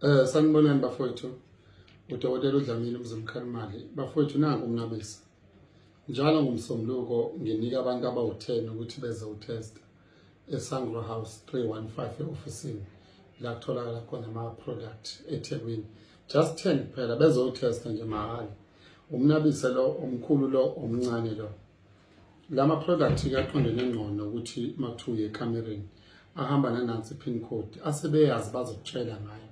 Eh sanibonani bafowethu. Udokotela uDlamini uMzimkhalimali. Bafowethu nangu uNqabisa. Njalo ngomsombuluko nginika abantu abawu-10 ukuthi beze utest eSangro House 315 eofisini la kutholakala khona ama-product eThekwini. Just 10 kuphela bezotesta nje mahhala. Umnabise lo omkhulu lo omncane lo. Lama product kaqondene ngcono ukuthi makuthiwa uye ekamereni ahamba nanansi pin code asebeyazi bazokutshela ngayo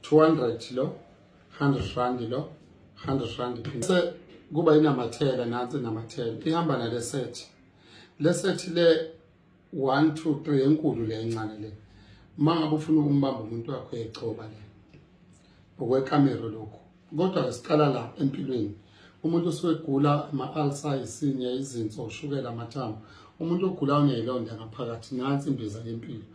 200 lo 100 rand lo 100 rand pin se kuba inamathela nansi inamathela ihamba nale set le set le one two three enkulu le encane le uma ngabe ufuna ukumbamba umuntu wakho yegcoba le ngokwekamero lokhu kodwa siqala la empilweni umuntu usuke egula ama-alsa isinya izinso ushukela amathambo umuntu ogula uneyilonda ngaphakathi nansi imbiza yempilo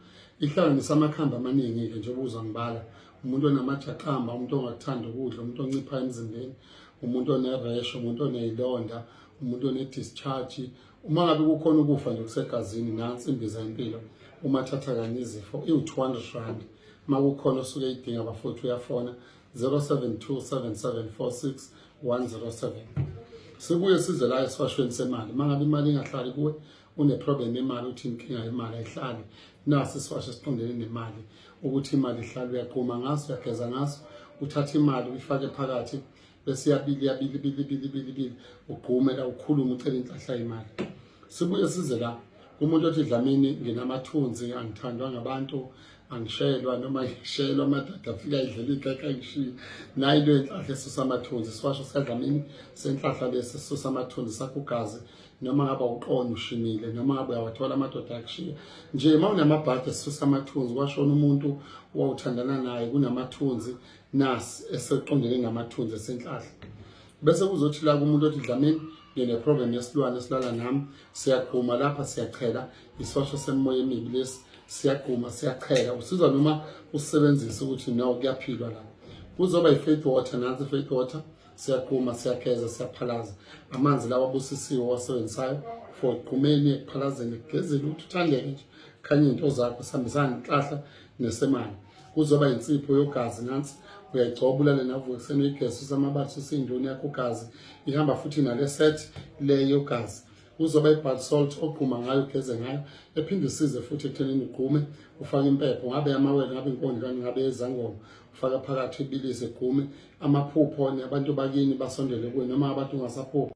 ihlanganisa amakhambi amaningi-ke njengoba uzwa ngibala umuntu onamajaqamba umuntu ongakuthanda ukudla umuntu oncipha emzimbeni umuntu oneresho umuntu oneyilonda umuntu onedischarge uma ngabe kukhona ukufa nje kusegazini nansi imbiza yempilo uma thatha kanye izifo iwu-200 rand uma kukhona osuke idinga bafowethu uyafona 0727746107 sibuye size la esifashweni semali uma ngabe imali ingahlali kuwe uneproblem yemali uthi inkinga yemali ayihlali nasi isiwasho esiqondene nemali ukuthi imali ihlala uyaquma ngaso uyageza ngaso uthatha imali uyifake phakathi bese yabili yabili bili bili bili bili ugqume la ukhuluma ucela inhlahla imali sibuye size la kumuntu othi dlamini nginamathunzi angithandwa ngabantu angishelwa noma ngishelwa amadada afika idlela igeka ayishiye nayi into yenhlahla esusa amathunzi siwasho sikadlamini senhlahla lesi esusa amathunzi sakugazi noma ngaba uqona ushimile noma ngabe uyawathola amadoda akushiya nje uma unamabhadi esusa amathunzi kwashona umuntu wawuthandana naye kunamathunzi nasi eseqondene namathunzi esenhlahla bese kuzothi la kumuntu othi dlamini ngineprogram yesilwane esilala nami siyagquma lapha siyachela isosho semimoya emibi lesi siyagquma siyachela usizwa noma usebenzisa ukuthi no kuyaphilwa la kuzoba yi-faith water nansi i-faith water siyagquma siyageza siyaphalaza amanzi lawa abusisiwe owasebenzisayo for ekugqumeni ekuphalazeni ekugezeni ukuthi uthandeke nje khanye into zakho sihambisana nenhlahla nesemane kuzoba yinsipho yogazi nansi uyayigcoba ulale navuka ekuseni uyigesi usamabathi usindoni yakho ugazi ihamba futhi nale set le yogazi uzoba i-bad salt ogquma ngayo ugeze ngayo ephinde isize futhi ekuthenini ugqume ufake impepho ngabe amawele ngabe inkondlwane ngabe ezangoma ufaka phakathi ibilise gqume amaphupho abantu bakini basondele kuwe noma abantu ungasaphupho